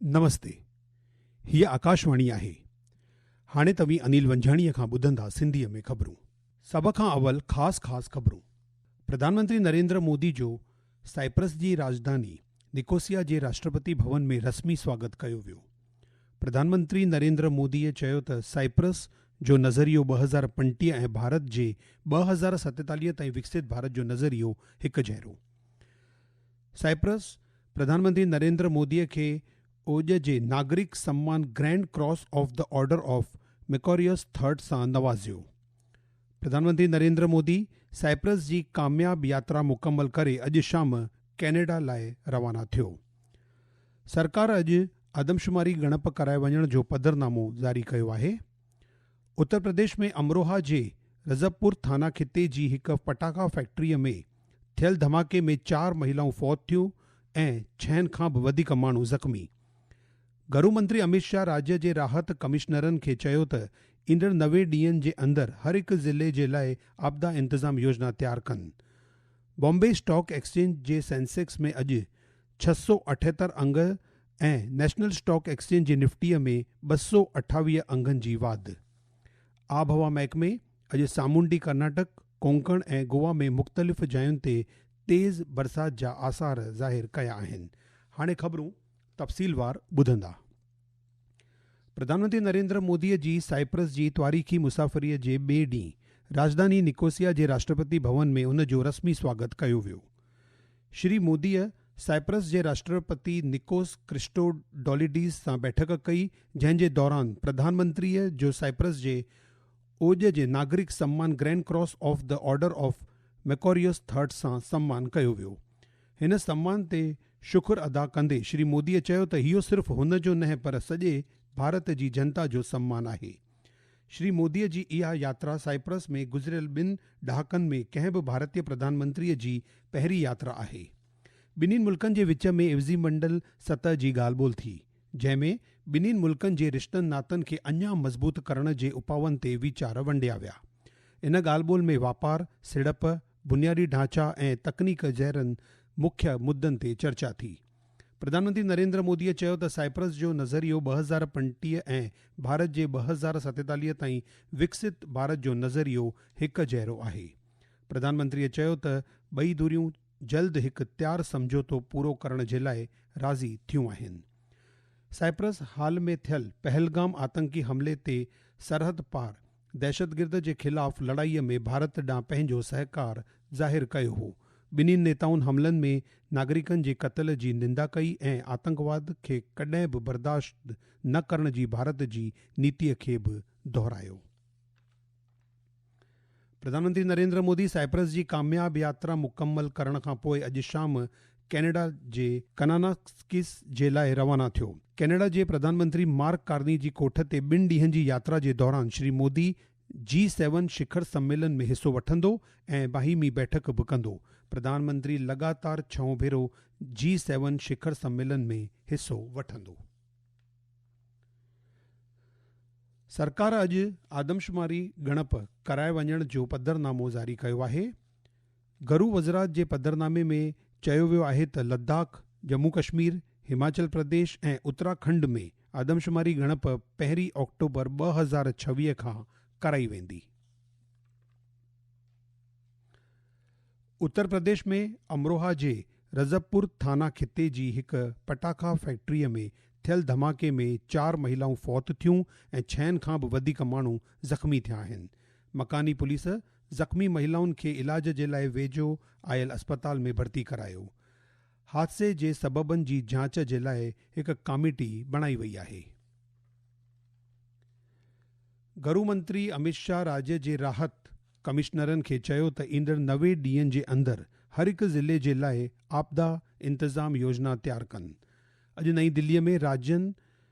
نمستي هيء آڪاشواڻي آهي هاڻي توهين انيل ونجهاڻيء کان ٻڌندا سنڌيء ۾ خبرون. سڀ کان اول خاص خاص خبرون پرڌان منتري نريندر مودي جو سائپرس جي راڄڌاني نڪوسيا جي راشٽرپتي ڀون ۾ رسمي سواگت ڪيو ويو پرڌان منتري نريندر موديء چيو ته سائپرس جو نظريو ٻه هزار پنٽيهه ۽ ڀارت جي ٻه هزار ستيتاليهه تائين وڪسيت ڀارت جو نظريو هڪجهڙو سائپرس، پرڌان منتري نريندر مودي کي اوڄ جي ناگرڪ سمان grand cross of the order of Makarios third سان نوازيو. پرڌان منتري نريندر مودي سائپرس جي ڪامياب ياترا مڪمل ڪري اڄ شام ڪينيڊا لاء روانا ٿيو. سرڪار اڄ آدمشماري ڳڻپ ڪرائي وڃڻ جو پڌرنامو جاري ڪيو آهي. اتر پرديش ۾ امروها جي رضبپور ٿانا خطي جي هڪ پٽاخا فيڪٽري ۾ ٿيل ڌماڪي ۾ چار مهيلائون فوت ٿيون ۽ ڇهن کان به وڌيڪ ماڻهو زخمي. گهرو منتري اميت شاهه راڄ جي راحت ڪمشنرن کي چيو ته ايندڙ نوي ڏينهن جي اندر هر هڪ ضلعي جي لاء آپدا انتظام يوجنا تيار ڪن. بامبي اسٽاڪ ايڪسچينج جي سينسيڪس ۾ اڄ ڇهه سؤ اٺيهتر انگ ۽ نيشنل اسٽاڪ ايڪسچينج جي نفٽي ۾ ٻه سؤ اٺاويهه انگن جي واڌ. آبهوا محڪمي اڄ سامونڊي ڪرناٽڪ، ڪونڪڻ ۽ گوا ۾ مختلف جاين تي تيز برسات جا آثار ظاهر ڪيا آهن. هاڻي خبرون تفصيلوار ٻڌندا. پرڌان منتري نريندر مودي جي سائپرس جي تواريخي مسافري جي ٻئي ڏينهن راڄڌاني نڪوسيا جي راشٽرپتي ڀون ۾ ان جو رسمي سواگت ڪيو ويو. شري موديء سائپرس جي راشٽرپتي نڪوس ڪرسٽوڊوليڊيس سان بيٺڪ ڪئي، جنهن جي دوران پرڌان منتريء جو سائپرس جي اوڄ جي ناگرڪ سمان grand cross of the order of Makarios third سان سمان ڪيو ويو. هن سمان تي شڪر ادا ڪندي شري موديء چيو ته اهو صرف هن جو نه پر سڄي ڀارت جي جنتا جو سمان آهي. شري مودي جي اها ياترا سائپرس ۾ گذريل ٻن ڏهاڪن ۾ ڪنهن به ڀارتي پرڌان منتري جي پهرين ياترا آهي. ٻنهين ملڪن جي وچ ۾ عزيم منڊل سطح جي ڳالهه ٻولهه ٿي، جنهن ۾ ٻنهين ملڪن جي رشتن ناتن کي اڃا مضبوط ڪرڻ جي اپائن تي ويچار ونڊيا ويا. ان ڳالهه ٻولهه ۾ واپار، سيڙپ، بنيادي ڍانچا ۽ تڪنيڪ جهڙن مکيه مدن تي چرچا ٿي. پرڌانمنتري نريندر مودي چيو ته سائپرس جو نظريو ٻه هزار پنجٽيهه ۽ ڀارت جي ٻه هزار ستيتاليهه تائين وڪسيت ڀارت جو نظريو هڪ جهڙو آهي. پرڌانمنتري چيو ته ٻئي ڌريون جلد هڪ تيار سمجهوتو پورو ڪرڻ جي لاء راضي ٿيون آهن. سائپرس حال ۾ ٿيل پهلگام آتنڪي حملي تي سرحد پار دهشتگرد جي خلاف لڙائي ۾ ڀارت ڏانهن پنهنجو سهڪار ظاهر ڪيو هو. ٻنهي نيتائن حملن ۾ ناگرڪن جي قتل جي نندا ڪئي ۽ آتنڪواد کي ڪڏهن به برداشت نه ڪرڻ جي ڀارت جي نيتي کي به دهرايو. پرڌانمنتري نريندر مودي سائپرس جي ڪامياب ياترا مڪمل ڪرڻ کانپوء اڄ شام ڪينيڊا جي ڪناناڪس جي لاء روانا ٿيو. ڪينيڊا جي پرڌان منتري مارڪ ڪارني جي ڪوٺ تي ٻن ڏينهن جي ياترا جي دوران شري مودي جي سيون شکر سميلن ۾ حصو وٺندو ۽ باهمي بيٺڪ به ڪندو. پرڌان منتري لڳاتار ڇهون ڀيرو جي سيون شکر سميلن ۾ حصو وٺندو. سرڪار اڄ آدمشماري ڳڻپ ڪرائي وڃڻ جو پڌرنامو جاري ڪيو آهي. گهرو وزرات جي پڌرنامي ۾ چيو ويو آهي ته لداخ، ڄمون ڪشمير، هماچل پرديش ۽ اتراکنڊ ۾ آدمشماري ڳڻپ پهرين آڪٽوبر ٻه هزار ڇويهه کان ڪرائي ويندي. اتر پرديش ۾ امروها جي رضبپور ٿانا خطي جي هڪ پٽاخا فيڪٽري ۾ ٿيل ڌماڪي ۾ چار مهيلائون فوت ٿيون ۽ ڇهن کان به وڌيڪ ماڻهو زخمي ٿيا آهن. مڪاني پوليس زخمي مهلائن کي علاج جي لاء ويجهو آيل اسپتال ۾ ڀرتي ڪرايو. حادثي جي سببن جي جاچ جي لاء هڪ ڪاميٽي بڻائي وئي آهي. گهرو منتري اميت شاهه راڄ جي راحت ڪمشنرن کي چيو ته ايندڙ نوي ڏينهن جي اندر هر هڪ ضلعي جي لاء آپدا انتظام يوجنا تيار ڪن. اڄ نئين دهلي ۾ راڄن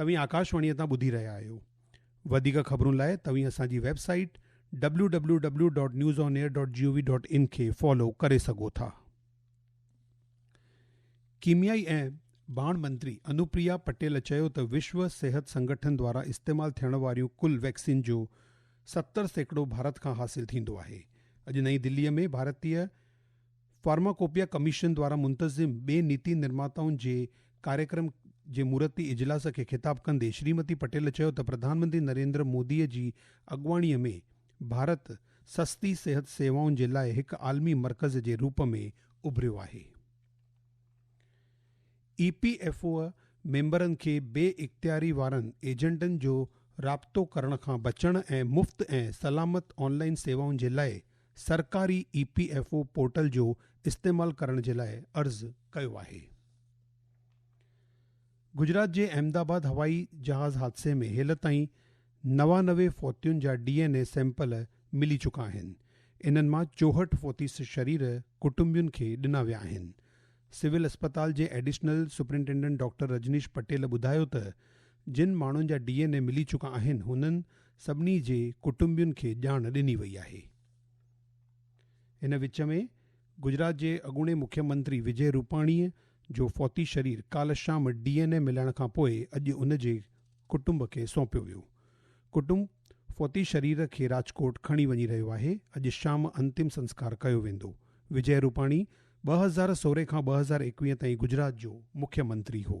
توهين آڪاشواڻيء تان ٻڌي رهيا آهيو. وڌيڪ خبرن لاء توهين اسان جي website W W W dot news on air dot G O V dot in کي فالو ڪري سگهو ٿا. ڪيميائي ۽ باڻ منتري انوپريا پٽيل چيو ته وشو صحت سنگٺن دوارا استعمال ٿيڻ واريون ڪل ويڪسين جو ستر سيڪڙو ڀارت کان حاصل ٿيندو آهي. اڄ نئين دلي ۾ ڀارتي فارماڪوپيا ڪميشن دوارا منتظم ٻين نيتي نرماتائن جي ڪاريڪرم جي مورتي اجلاس کي خطاب ڪندي شريمتي پٽيل چيو ته پرڌان منتري نريندر مودي جي اڳواڻي ۾ ڀارت سستي صحت سيوائن جي لاء هڪ عالمي مرڪز جي روپ ۾ اڀريو آهي. اي پي ايف او ميمبرن کي بي اختياري وارن ايجنٽن جو رابطو ڪرڻ کان بچڻ ۽ مفت ۽ سلامت آن لائين سيوائن جي لاء سرڪاري E P F O portal جو استعمال ڪرڻ جي لاء عرض ڪيو آهي. گجرات جي احمد آباد هوائي جهاز حادثي ۾ هيل تائين نوانوي فوتين جا ڊي اين اي سيمپل ملي چڪا آهن، انهن مان چوهٺ فوتي شرير ڪٽنبين کي ڏنا ويا آهن، سول اسپتال جي additional superintendent doctor Rajnish Patel ٻڌايو ته جن ماڻهن جا ڊي اين اي ملي چڪا آهن هنن سڀني جي ڪٽنبين کي ڄاڻ ڏني وئي آهي. ان وچ ۾ گجرات جي اڳوڻي مکيه منتري وجي روپاڻي جو فوتي شرير ڪالهه شام ڊي اين اي ملڻ کان پوء اڄ ان جي ڪٽنب کي سونپيو ويو. ڪٽنب فوتي شرير کي راجڪوٽ کڻي وڃي رهيو آهي، اڄ شام انتم سنسڪار ڪيو ويندو. وجي روپاڻي ٻه هزار سورهن کان ٻه هزار ايڪويهه تائين گجرات جو مکيه منتري هو.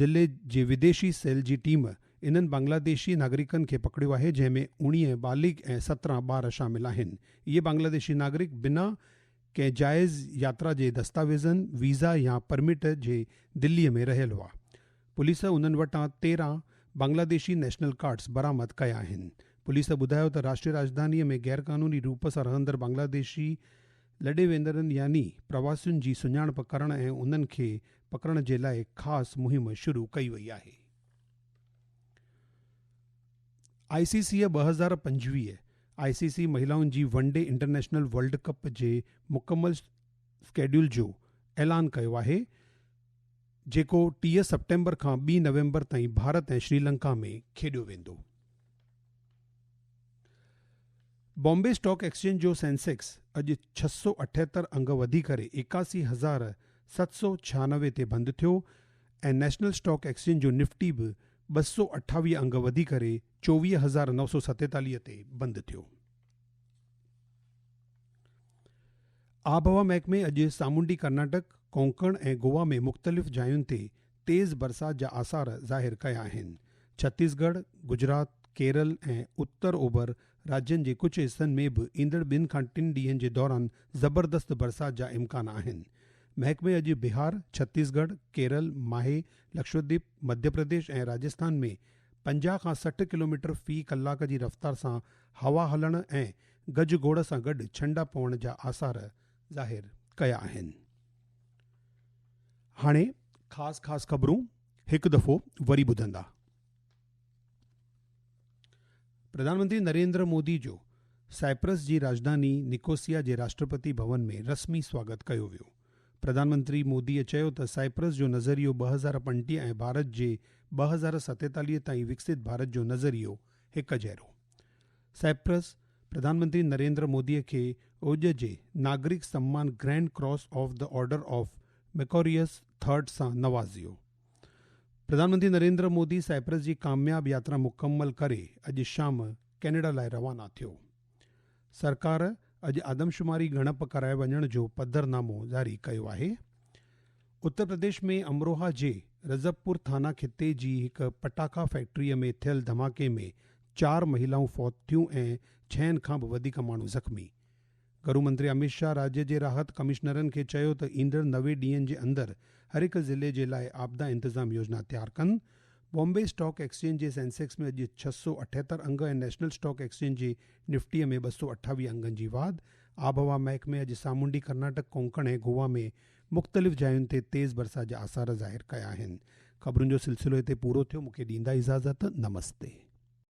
ضلعي جي وديشي سيل جي ٽيم انهن بنگلاديشي ناگرڪن کي پڪڙيو آهي جنهن ۾ اوڻيهه بالغ ۽ سترهن ٻار شامل آهن. اهي بنگلاديشي ناگرڪ بنا ڪنهن جائز ياترا جي دستاويزن، ويزا يا پرمٽ جي دلي ۾ رهيل هئا. پوليس انهن وٽان تيرهن بنگلاديشي نيشنل ڪارڊز برآمد ڪيا آهن. پوليس ٻڌايو ته راشٽري راڄڌاني ۾ غيرقانوني روپ سان رهندڙ بنگلاديشي لڏي ويندڙن يعني پرواسين جي سڃاڻپ ڪرڻ ۽ انهن کي پڪڙڻ جي لاء خاص مهم شروع ڪئي وئي آهي. آء سي سي ٻه هزار پنجويهه آء سي سي مهيلائن جي one day international world cup جي مڪمل اسڪيڊيول جو اعلان ڪيو آهي جيڪو ٽيهه سيپٽمبر کان ٻي نومبر تائين ڀارت ۽ شريلنڪا ۾ کيڏيو ويندو. بامبي اسٽاڪ ايڪسچينج جو سينسيڪس اڄ ڇهه سؤ اٺهتر انگ وڌي ڪري ايڪاسي هزار ست سؤ ڇهانوي تي بند ٿيو ۽ نيشنل اسٽاڪ ايڪسچينج جو نفٽي به ٻه سؤ اٺاويهه انگ وڌي ڪري چوويهه هزار نو سؤ ستيتاليهه تي بند ٿيو. آبهوا محڪمي اڄ سامونڊي ڪرناٽڪ، ڪونڪڻ ۽ گوا ۾ مختلف جاين تي تيز برسات جا آثار ظاهر ڪيا آهن. ڇتيس ڳڙهه، گجرات، ڪيرل ۽ اتر اوڀر راجين جي ڪجهه حصن ۾ به ايندڙ ٻن کان ٽن ڏينهن جي دوران زبردست برسات جا امڪان آهن. محڪمي اڄ بهار، ڇتيس ڳڙهه، ڪيرل، ماهي، لڪشديپ، مڌيه پرديش ۽ راجسٿان ۾ پنجاهه کان سٺ ڪلوميٽر في ڪلاڪ جي رفتار سان هوا هلڻ ۽ گجگوڙ سان گڏ ڇنڊا پوڻ جا آثار ظاهر ڪيا آهن. هاڻي خاص خاص خبرون هڪ دفعو وري ٻڌندا. پرڌانمنتري نريندر مودي جو سائپرس جي راڄڌاني نڪوسيا جي راشٽرپتي ڀون ۾ رسمي سواگت ڪيو ويو. پرڌانمنتري موديء چيو ته سائپرس جو نظريو ٻه هزار پنجٽيهه ۽ ڀارت جي ٻه هزار ستيتاليهه تائين وڪسيت ڀارت جو نظريو هڪ جهڙو. سائپرس پرڌانمنتري نريندر مودي کي اوڄ جي ناگرڪ سمان grand cross of the order of Makarios third سان نوازيو. پرڌانمنتري نريندر مودي سائپرس جي ڪامياب ياترا مڪمل ڪري اڄ شام ڪينيڊا لاء روانا ٿيو. سرڪار اڄ آدمشماري ڳڻپ ڪرائي وڃڻ جو پڌر نامو جاري ڪيو آهي. اتر پرديش ۾ امروها جي رضبپور ٿانا خطي جي هڪ پٽاخا فيڪٽري ۾ ٿيل ڌماڪي ۾ چار مهيلائون فوت ٿيون ۽ ڇهن کان به وڌيڪ ماڻهو زخمي. گهرو منتري اميت شاهه راڄ جي راحت ڪمشنرن کي چيو ته ايندڙ نوي ڏينهن جي اندر هرهڪ ضلعي جي لاء آپدا انتظام يوجنا تيار ڪن، بامبي اسٽاڪ ايڪسچينج جي سينسيڪس ۾ اڄ ڇهه سؤ اٺيهتر انگ ۽ نيشنل اسٽاڪ ايڪسچينج جي نفٽي ۾ ٻه سؤ اٺاويهه انگن جي واڌ، آبهوا محڪمي اڄ سامونڊي ڪرناٽڪ ڪونڪڻ ۽ گووا ۾ مختلف جاين تي تيز برسات جا آثار ظاهر ڪيا آهن. خبرن جو سلسلو هتي پورو ٿيو مون کي ڏيندا اجازت نمستي.